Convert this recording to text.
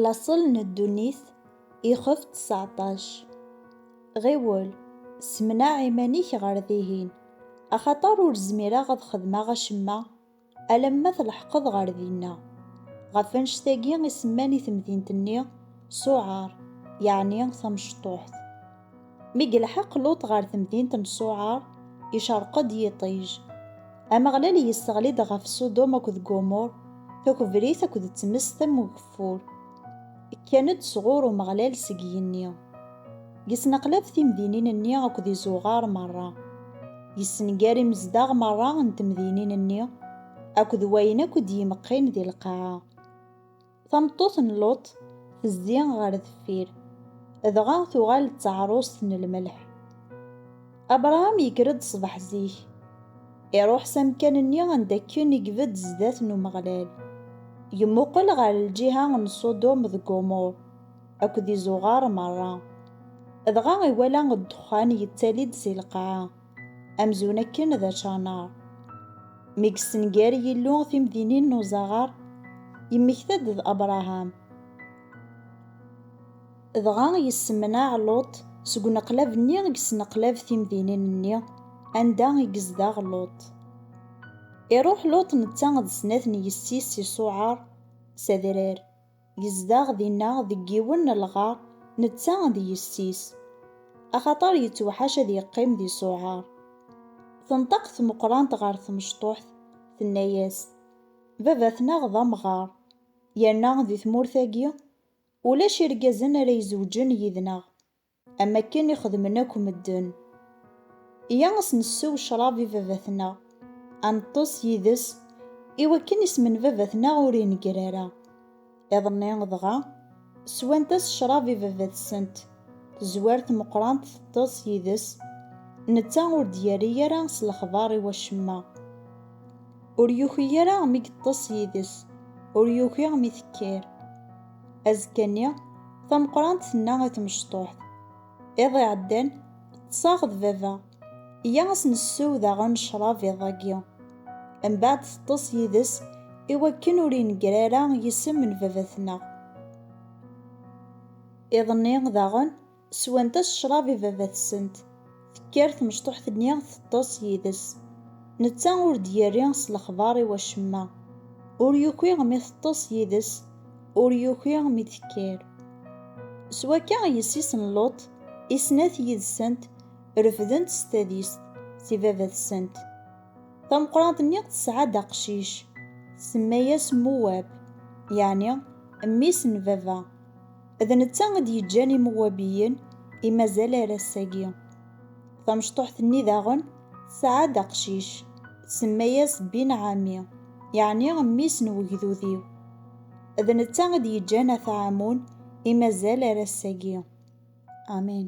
Laṣel n ddunit, ixef ţeṣɛeṭṭac. Ɣiwel, ssemneɛ iman-ik ɣer dihin, axaṭer ur zmireɣ ad xedmeɣ acemma alamma tleḥqeḍ ɣer dinna. Ɣef annect-agi i semman i temdint-nni Ṣuɛar, yeɛni tamecṭuḥt. Mi yelḥeq Luṭ ɣer temdint n Ṣuɛar, icerq-d yiṭij. Ameɣlal yesseɣli-d ɣef Ṣudum akked Gumur, takebrit akked tmes tamugeffur. Kkan-d sɣur Umeɣlal seg yigenni. Yesneqlab timdinin-nni akked izuɣar merra. Yessenger imezdaɣ merra n temdinin-nni akked wayen akk i d-yemqqin di lqaɛa. Tameṭṭut n Luṭ tezzi ɣer deffir, dɣa tuɣal d taɛrust n lmelḥ. Abṛaham yekker-d ṣṣbeḥ zik, iṛuḥ s amkan-nni anda akken i ibedd zdat n Umeɣlal, yemmuqel ɣer lǧiha n Ṣudum d Gumur akked izuɣar meṛṛa, dɣa iwala ddexxan yettali-d si lqaɛa. Amzun akken d ačanar. Mi yessenger Yillu timdinin n uzaɣar, yemmekta-d d Abraham. Dɣa yessemneɛ Luṭ seg uneqlab-nni i yesneqlab timdinin-nni anda i yezdeɣ Luṭ. Iruḥ Luṭ netta d snat n yessi-s i Ṣuɛar, s adrar. Yezdeɣ dinna deg yiwen n lɣar, netta d yessi-s, axaṭer yettewḥac ad yeqqim di Ṣuɛar. Tenṭeq tmeqqrant ɣer tmecṭuḥt, tenna-yas, Baba-tneɣ d amɣar, yerna di tmurt-agi ulac irgazen ara izewǧen yid-neɣ. Am akken i xedmen akk medden. Iyya a s-nessew ccrab i baba-tneɣ, a neṭṭes yid-s, i wakken isem n baba-tneɣ ur ineggir ara. Iḍ-nni, dɣa, swant-as ccrab i baba-tsent. Tezwar tmeqqrant teṭṭes yid-s. Netta ur d-yerri ara s lexbar i wacemma. Ur yuki ara mi yeṭṭes yid-s, ur yuki mi tekker. Azekka-nni, tameqqrant tenna i tmecṭuḥt, Iḍ iɛeddan, ṭṭseɣ d baba. Iyya a s-nessew daɣen ccrab iḍ-agi. Mbeɛd teṭṭes yid-s i wakken ur ineggr ara yisem n baba-tneɣ. Iḍ-nni daɣen, Swant-as ccrab i baba-tsent. Tekker tmecṭuḥt-nni teṭṭes yid-s. Netta ur d-yerri s lexbar i wacemma. Ur yuki mi teṭṭes yid-s, ur yuki mi d-tekker. S wakka yessi-s n Luṭ i snat yid-sent refdent s tadist si baba-tsent. Tameqqrant-nni tesɛa-d aqcic, tsemma-yas Muwab, yeɛni mmi-s n baba. D netta i d-yeǧǧan Imewwabiyen i mazal ar ass-agi. Tamecṭuḥt-nni daɣen tesɛa-d aqcic, tsemma-yas Bin Ɛami, yeɛni mmi-s n wegdud-iw. D netta i d-yeǧǧan At Ɛamun i mazal ar ass-agi. Amin.